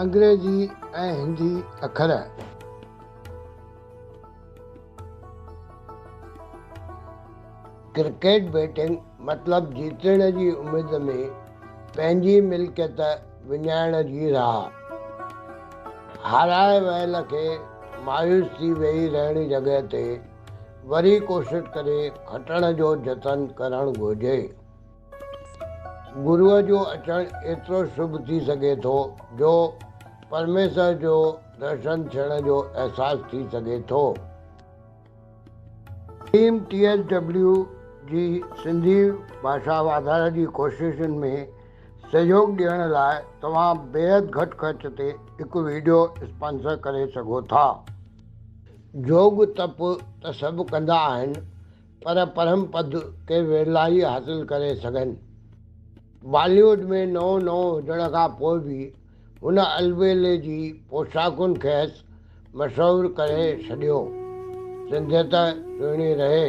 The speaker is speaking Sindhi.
انگريزي ۽ هندي اکر. ڪرڪيٽ بيٽنگ مطلب جيتڻ جي اميد ۾ پنهنجي ملڪيت وڃائڻ جي راهه. هارائي ويل کي مايوس ٿي ويهي رهڻ جڳهه تي وري ڪوشش ڪري کٽڻ جو جتن ڪرڻ گهرجي. گروء جو اچڻ ايترو شڀ ٿي سگهي ٿو جو پرميسر جو درشن ٿيڻ جو احساس ٿي سگهي ٿو. ٽيم ٽي ايس ڊبليو جي سنڌي ڀاشا واڌاري جي ڪوششن ۾ سهيوڳ ڏيڻ لاء توهان بيحد گهٽ خرچ تي هڪ ويڊيو اسپانسر ڪري سگهو ٿا. جوڳ تپ ته سڀ ڪندا آهن پر پرم پد ڪي ورلا ئي حاصل ڪري سگهن. باليووڊ ۾ نئون نئون هجڻ کان پوء به هن البيلي جي پوشاڪن کيس مشهور ڪري ڇڏيو. سنڌيت سهڻي رهي.